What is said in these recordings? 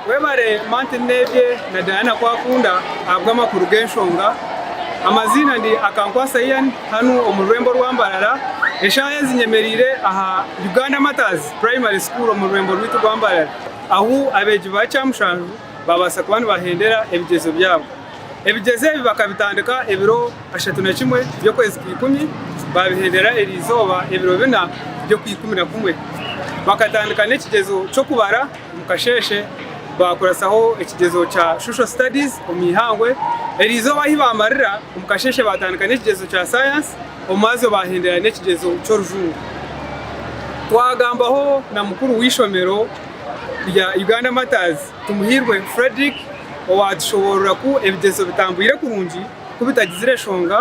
Webare Martin Nebye na Diana Kwakunda ahabw'amakuru g'enshonga. Amaziina ndi Akankwasa Ian hanu omu rurembo rwa Mbarara. Eshaaha ezi nyemereire aha Uganda Martyrs Primary School omu rurembo rwaitu rwa Mbarara ahu abeegi ba kyamushanju baabaasa kuba nibahendera ebigyezo byabo. Ebigyezo ebi bakabitandika ebiro kashatu na kimwe by'okwezi kwa ikumi, baabihendera erizooba ebiro bina by'okwa ikumi na kumwe. Bakatandika n'ekigyezo ky'okubara omu kasheeshe, baakuratsaho ekigyezo kya Social Studies omu ihangwe. Erizooba ahi baamarira omu kasheeshe baatandika n'ekigyezo kya Science, omwazo baahendera n'ekigyezo ky'orujungu. Twagambaho na mukuru w'eishomero rya Uganda Martyrs, Tumuhirwe Fredrick owaatushoboorora ku ebigyezo bitambwire kurungi ku bitagizire nshonga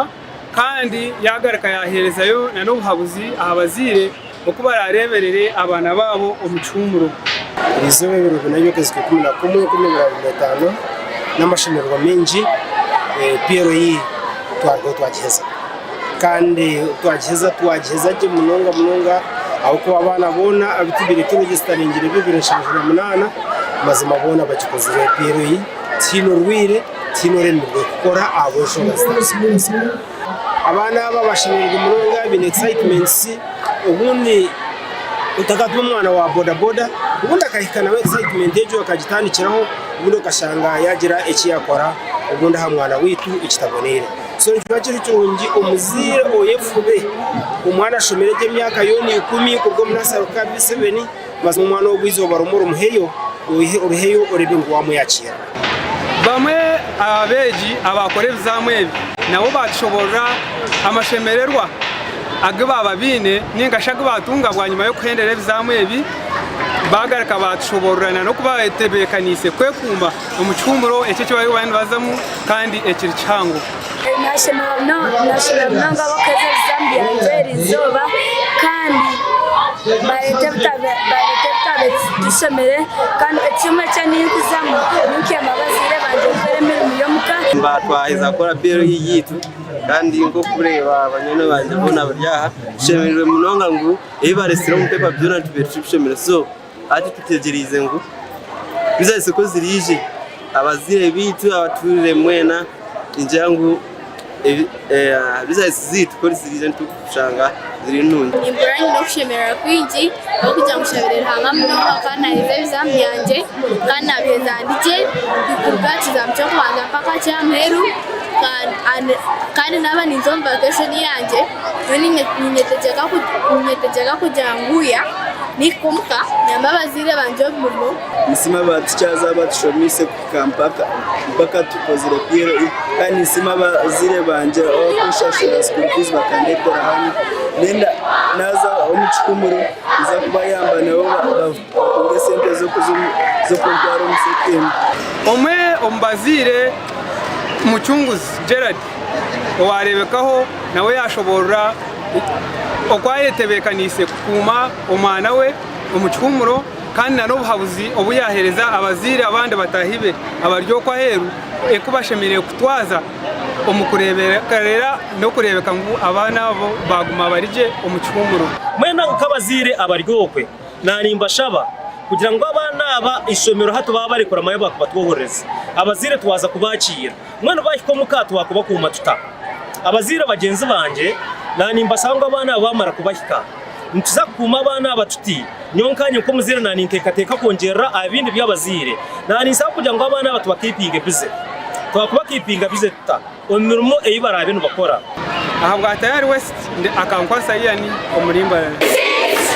kandi yaagaruka yaaheerezayo n'obuhabuzi aha bazaire oku baraareeberere abaana baabo omu kihuumuro. Eizooba ebiro bina by'okwezi kwa ikumi na kumwe, enkumi ibiri na abiri na etaano, n'amashemererwa maingi, PLE twarugaho twagiheza. kandi twagiheza twagiheza gye munonga munonga ahabw'okuba abaana boona abu tubaire twine zitarengire bibiri nshanju na munaana mazima boona bagikozire empiira ei tihaine orwaire tihaine oremirwe kukora ahabw'enshonga zitarikumanyisa. Abaana aba bashemereirwe munonga baine excitements obundi otakatuma omwana wa bodaboda obundi akahika nawe excitement egyo akagitandikiraho obundi okashanga yaagira eki yaakora obundi aha mwana waitu ekitaboneire. So nikiba kiri kirungi omuzaire oyefube omwana ashomere gye emyaka yoona ikumi kuruga omu nasari kuhika aha B7 mazima omwana ogu eizooba rimwe orimuheyo oriheyo oreebe ngu waamweyakira. Bamwe aha beegi abaakora ebizamu ebi nabo baatushoboorora amashemererwa agu baaba baine nainga shi agu baatunga bwanyima y'okuhendera ebizamu ebi. Baagaruka baatushoboorora n'oku baatebeekaniise kwekuuma. omu kihuumuro ekyo eki baabaire nibazaamu kandi ekiri kihango. Naashemererwa munonga ab'okuheereza ebizaamu byangye eri izooba kandi baareeta ebitabo ebitushemire. Kandi ekimwe eki ndikuzamu ni kuyamba abazaire bangye kukora emirimo y'omuka. Twaheza kukora biiru yaitu kandi nk'okureeba banywani bangye boona bari aha, tushemereirwe munonga ngu ebi baaretsire omu bipaapa byona nitubireeba turi kushemera. Hati tutegyereize ngu twije aha isoko ziriije, abazaire baitu, abatuuriire mwena nigira ngu bizinesi zaitu ku ziriija nitushanga ziri nungi. Nimpurira nyine okushemererwa kwingi ahabw'okugira ngu nshabire Ruhanga munonga nkaba naaheza ebizaamu byangye kandi naabiheza ndi gye kuruga aha kizaamu ky'okubanza mpaka ky'aha muheru kandi naaba ninza omu vakeshoni yangye. Nyowe ninyetegyeka kugira ngu ya. Naihika omu ka, nyamba abazaire bangye omu murimo. Ninsiima aba tikyazi abatushomiise kuhika mpaka mpaka tukozire PLE. Kandi ninsiima abazaire bangye abakunshashurira school fees bakandeetera hanu. Naaza omu kihumure, ninza kubayamba nabo ba. Omwe omu bazaire, Mucunguzi Gerald owaareebekaho nawe yaashoboorora oku ayetebeekaniise kukuuma omwana we omu kihuumuro kandi nana obuhabuzi obu yaaheereza abazaire abandi bataahi be abari okwo aheeru oku bashemereire kutwaza omu kureeberera n'okureebeka ngu abaana abo baaguma bari gye omu kihuumuro. Mwena nk'abazaire abari okwo Nanimbashaba kugira ngu abaana aba eishomero hati baaba barikuramayo baakuba twohorerezi. Abazaire twaza kubaakiira. Mbwenu baahika omuka twakubakuuma tuta? Abazaire bagyenzi bangye, nanimbashaba ngu abaana aba baamara kubahika, nituza kukuuma abaana aba tuti? Nyowe nkanye nk'omuzaire naninteekateeka kwongyerera aha bindi by'abazaire. Naninsaba kugira ngu abaana aba tubakiipinge bize. Twakubakiipinga bize tuta omu mirimo ei baraabe nibakora? Ahabwa Tayari West ndi akankwasa Ian omurimbo.